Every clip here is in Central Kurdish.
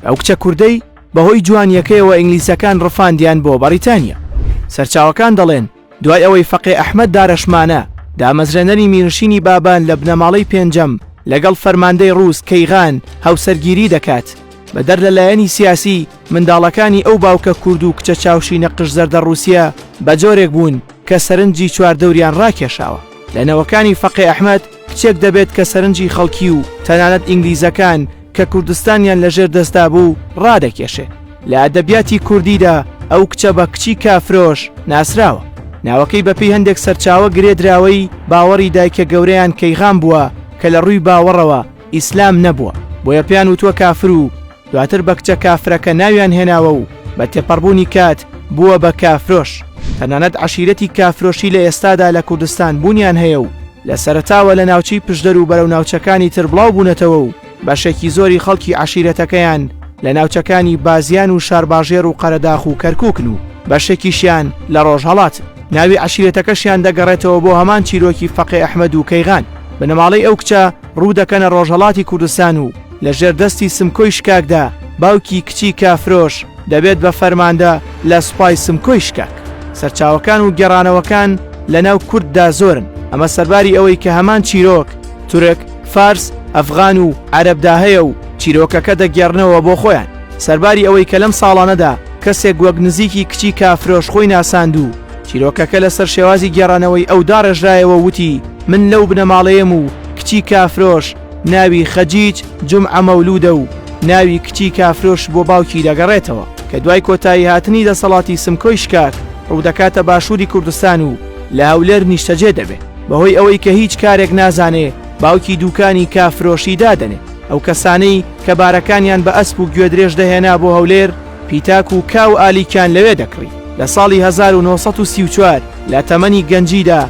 ئەو کچە کوردەی بەهۆی جوانیەکەیەوە ئینگلیسەکان ڕفاندیان بۆ بەڕیتانیا سەرچاوەکان دەڵێن دوای ئەوەی فەقێ ئەحمد دارەشمانە دامەزرێنەری میرنشینی بابان لە بنەماڵەی پێنجەم لەگەڵ فەرماندەی ڕووس کەیغان هاوسەرگیری دەکات بەدەر لە لایەنی سیاسی منداڵەکانی ئەو باوکە کورد و کچە چاوشی نەقش زەردە ڕوسیا بە جۆرێک بوون کە سەرنجی چواردەوریان ڕاکێشاوە لەنەوەکانی فەقێ ئەحمد کچێک دەبێت کە سەرنجی خەڵکی و تەنانەت ئینگلیزەکان کە کوردستانیان لە ژێر دەستدا بوو ڕادەکێشێ. لە ئەدەبیاتی کوردیدا ئەو کچە بە کچی کافرۆش ناسراوە. ناوەکەی بە پێی هەندێک سەرچاوە گرێ دراوەی باوەڕی دایکە گەورەیان کەیغان بووە کە لە ڕووی باوەڕەوە ئیسلام نەبووە بۆیە پێیان وتووە کافر و دواتر بە کچە کافرەکە ناویان هێناوە و بە تێپەڕبوونی کات بووە بە کافرۆش، تەنانەت عەشیرەتی کافرۆشی لە ئێستادا لە کوردستان بوونیان هەیە و لە سەرەتاوە لە ناوچەی پشدەر و بەرەو ناوچەکانی تر بڵاو بوونەتەوە و بەشێکی زۆری خەڵکی عەشیرەتەکەیان لە ناوچەکانی بازیان و شارباژێڕ و قەرەداخ و کەرکووکن و بەشێکیشیان لە ڕۆژهەڵاتن. ناوی عەشیرەتەکەشیان دەگەڕێتەوە بۆ هەمان چیرۆکی فەقێ ئەحمەد و کەیغان، بنەماڵەی ئەو کچە، ڕوو دەکەنە ڕۆژهەڵاتی کوردستان و لە ژێر دەستی سمکۆی شکاکدا باوکی کچی کافرۆش دەبێت بە فەرماندە لە سوپای سمکۆی شکاک. سەرچاوەکان و گێڕانەوەکان لە ناو کورددا زۆرن، ئەمە سەرباری ئەوەی کە هەمان چیرۆک تورک، فارس، ئەفغان و عەرەبدا هەیە و چیرۆکەکە دەگێڕنەوە بۆ خۆیان. سەرباری ئەوەی کە لەم ساڵانەدا کەسێک وەک نزیکی کچی کافرۆش خۆی ناساند و چیرۆکەکە لەسەر شێوازی گێڕانەوەی ئەو داڕێژرایەوە و وتی، من لەو بنەماڵەیەم و کچی کافرۆش ناوی خەجیج جومعە مەولوودە و ناوی کچی کافرۆش بۆ باوکی دەگەڕێتەوە کە دوای کۆتایی هاتنی دەسەڵاتی سمکۆی شکاک ڕوودەکاتە باشووری کوردستان و لە هەولێر نیشتەجێ دەبێ بەهۆی ئەوەی کە هیچ کارێک نازانێ باوکی دووکانی کافرۆشی دادەنێ ئەو کەسانەی کە بارەکانیان بە ئەسپ و گوێدرێژ دەهێنا بۆ هەولێر پیتاک و کا و ئالیکیان لەوێ دەکڕی. لە ساڵی هەزار و نۆ سەد و سی و چوار لە تەمەنی گەنجیدا،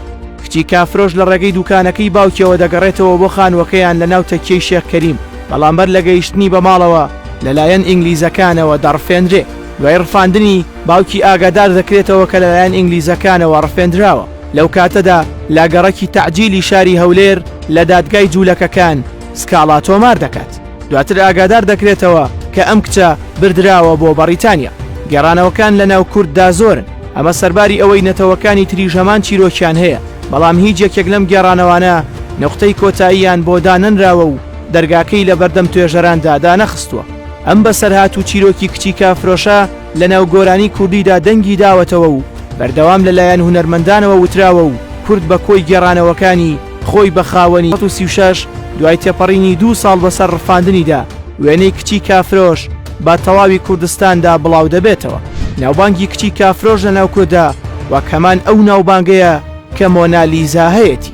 کچی کافرۆش لە ڕێگەی دووکانەکەی باوکیەوە دەگەڕێتەوە بۆ خانووەکەیان لە ناو تەکیەی شێخ کەریم، بەڵام بەر لە گەیشتنی بە ماڵەوە لەلایەن ئینگلیزەکانەوە دەڕفێنرێ. دوای ڕفاندنی، باوکی ئاگادار دەکرێتەوە کە لەلایەن ئینگلیزەکانەوە ڕفێندراوە. لەو کاتەدا لا گەڕەکی تەعجیلی شاری هەولێر لە دادگای جوولەکەکان سکاڵا تۆمار دەکات. دواتر ئاگادار دەکرێتەوە کە ئەم کچە بردراوە بۆ بەڕیتانیا. گێڕانەوەکان لە ناو کورددا زۆرن، ئەمە سەرباری ئەوەی نەتەوەکانی تریش هەمان چیرۆکیان هەیە، بەڵام هیچ یەکێک لەم گێڕانەوانە نوقتەی کۆتاییان بۆ دانەنراوە و دەرگاکەی لەبەردەم توێژەراندا دانەخستووە. ئەم بەسەرهات و چیرۆکی کچی کافرۆشە، لەناو گۆرانی کوردیدا دەنگی داوەتەوە و بەردەوام لە لایەن هونەرمەندانەوە وتراوە و کورد بە کۆی گێڕانەوەکانی خۆی بە خاوەنی سەد و سی و شەش دوای تێپەڕینی دوو ساڵ بەسەر ڕفاندنیدا وێنەی کچی کافرۆش بە تەواوی کوردستاندا بڵاو دەبێتەوە. ناوبانگی کچی کافرۆش لەناو کورددا وەک هەمان ئەو ناوبانگەیە کە مۆنا لیزا هەیەتی.